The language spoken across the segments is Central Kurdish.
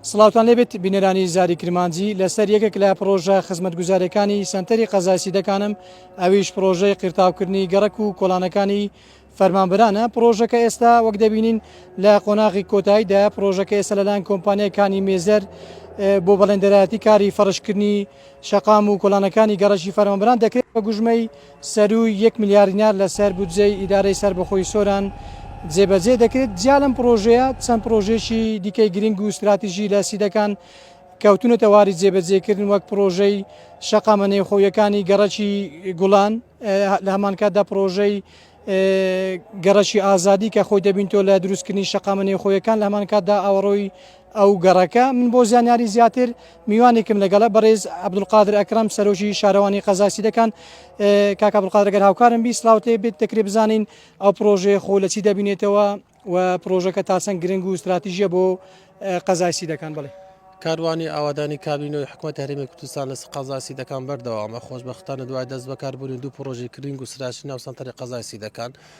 سڵاوتان لێبێت بینەرانی زاری کرمانجی لەسەر یەکێک لە پرۆژە خزمەتگوزارەکانی سنتەری قەزای سیدەکانم ئەویش پرۆژەی قیرتاوکردنی گەڕک و کۆلانەکانی فەرمانبرانە پرۆژەکە ئێستا وەک دەبینین لە قۆناغی کۆتاییدا پرۆژەکە ئێستا لەلایەن کۆمپانیەکانی مێزەر بۆ بەڵێندەرایەتی کاری فەرشکردنی شەقام و کۆلانەکانی گەڕەکی فەرمانبران دەکرێت بە گوژمەی سەرووی یەک ملیار دینار لەسەر بودجەی ئیدارەی سەربەخۆی سۆران جێبەجێ دەکرێت، جیا لەم پڕۆژەیە چەند پڕۆژەیەکی دیکەی گرنگ و ستراتیژی لە سیدەکان کەوتونەتە واری جێبەجێکردن وەک پڕۆژەی شەقامە نێوخۆییەکانی گەڕەکی گوڵان لە هەمانکاتدا پڕۆژەی گەڕەکی ئازادی کە خۆی دەبینتەوە لە دروستکردنی شەقامە نێوخۆییەکان لە هەمانکاتدا ئاوەڕۆی ئەو گەڕەکە من بۆ زانیاری زیاتر میوانێکم لەگەڵە بەڕێز عبدولقادر ئەکرم سەرۆکی شارەوانی قەزای سیدەکان کاک عبدولقادرگەر هاوکارم بی سلااوتێ بێت دەکرێت بزانین ئەو پرۆژەیە خۆ لە چی دەبینێتەوە و پرۆژەکە تاسەنگ گرنگ و استراتیژیە بۆ قەزای سیدەکان بڵێ کاروانی ئاوادانی کابینەوەی حکومت هەرمی کوردستان لە قەزای سیدەکان بەردەوامە خۆشببختانە دوای دەست بەکاربوونی دوو پرۆژی کرینگ و سراشی ناو سنتەری قەزای سیدەکان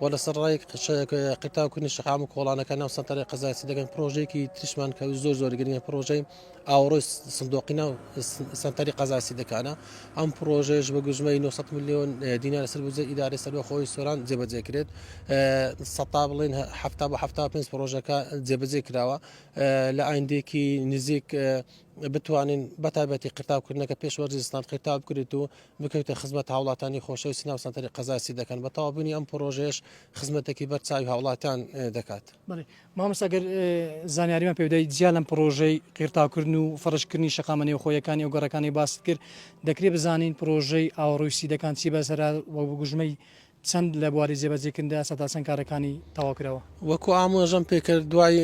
و لەسەر ڕای شەک قرتاو کردنی شەقام و کۆڵانەکە ناو سەنتەری قەزای سیدەگەن پرۆژەیەکی تریشمان کە زۆر زۆر گرنگە پرۆژەی ئاوڕۆی سندۆقی ناو سەنتەری قەزای سیدەکانە ئەم پرۆژەیەش بە گوژمەی 900 میلیۆن دینار سەر بزە ئیدارە سەربەخۆی سۆران جێبەجێ کرێت سەتا بڵین هەفتا بە هەفتا پێنج پرۆژەکە جێبەجێ کراوە لە ئایندێکی نزیک بتوانین بەتابەتی قرتاوکردنەکە پێشوەرزستان قرتاو بکرێت و بکەویتە خزمەت هاوڵاتانی خۆشەوی سنە و سەنتەری قەزای سی دەکەن بە تەوابوونی ئەم پرۆژەیەش خزمەتێکی بەر چاوی هاوڵاتان دەکات مامەسەگەر زانیاریمان پێدای جیا لەم پرۆژەی قیرتاکردن و فڕشکردنی شقامە نێوخۆیەکانی ئەو گەڕەکانی باست کرد دەکرێت بزانین پرۆژەی ئاوڕووسی دەکان چی بەسەر وە بگوژمەی چەند لە بواری جێبەجێکردندا سەتاچەند کارەکانی تەواوکراوە؟ وەکو ئامۆژەم پێکرد دوای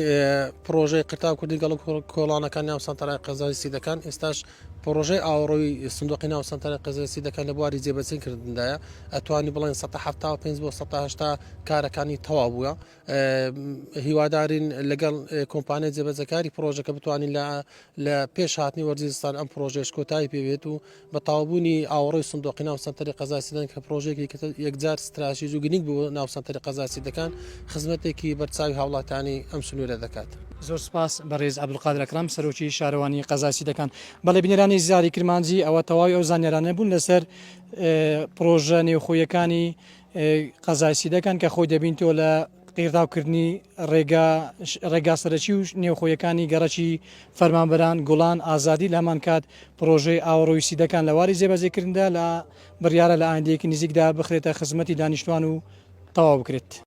پرۆژەی قرتاو کردی گەڵ کۆڵانەکان ناو سەنتەرای قەزای سیدەکان ئێستاش پرۆژەی ئاوەڕۆی سندوقی ناو سەنتەرە قەزای سیدەکان لە بواری جێبەچین کردندایە ئەتوانی بڵێن سە حفتا و پێ بۆ سە هشتا کارەکانی تەوا بووە هیوادارین لەگەڵ کۆمپانیای جێبەجەکاری پرۆژەکە بتوانین لە پێش هاتنی وەرزی زستان ئەم پرۆژێش کۆتایی پێبێت و بە تاوبوونی ئاوڕۆی سندۆقی ناو سەنتەری قەزاسیدان کە پرۆژێکی یەکجار ستراشیز و گرنگ بوو ناو سەنتەری قەزاسی دەکان خزمەتێکی بەرچاوی هاوڵاتانی ئەم سنوورە دەکات. زۆر سپاس بەڕێز عەبدولقادر ئەکرەم سەرۆکی شارەوانی قەزاسی دەکان. بەڵێ بینەرانی زاری کرمانجی ئەوە تەواوی ئەو زانیارانە بوون لەسەر پڕۆژە نێوخۆیەکانی قەزای سیدەکان کە خۆی دەبینتەوە لە قیرتاوکردنی ڕێگا ڕێگا سەرەکی و نێوخۆیەکانی گەڕەکی فەرمانبەران گوڵان ئازادی لە هەمان کات پرۆژەی ئاوڕۆی سیدەکان لە واری جێبەجێکردندا لە بڕیارە لە ئایندەیەکی نزیکدا بخرێتە خزمەتی دانیشتوان و تەواو بکرێت.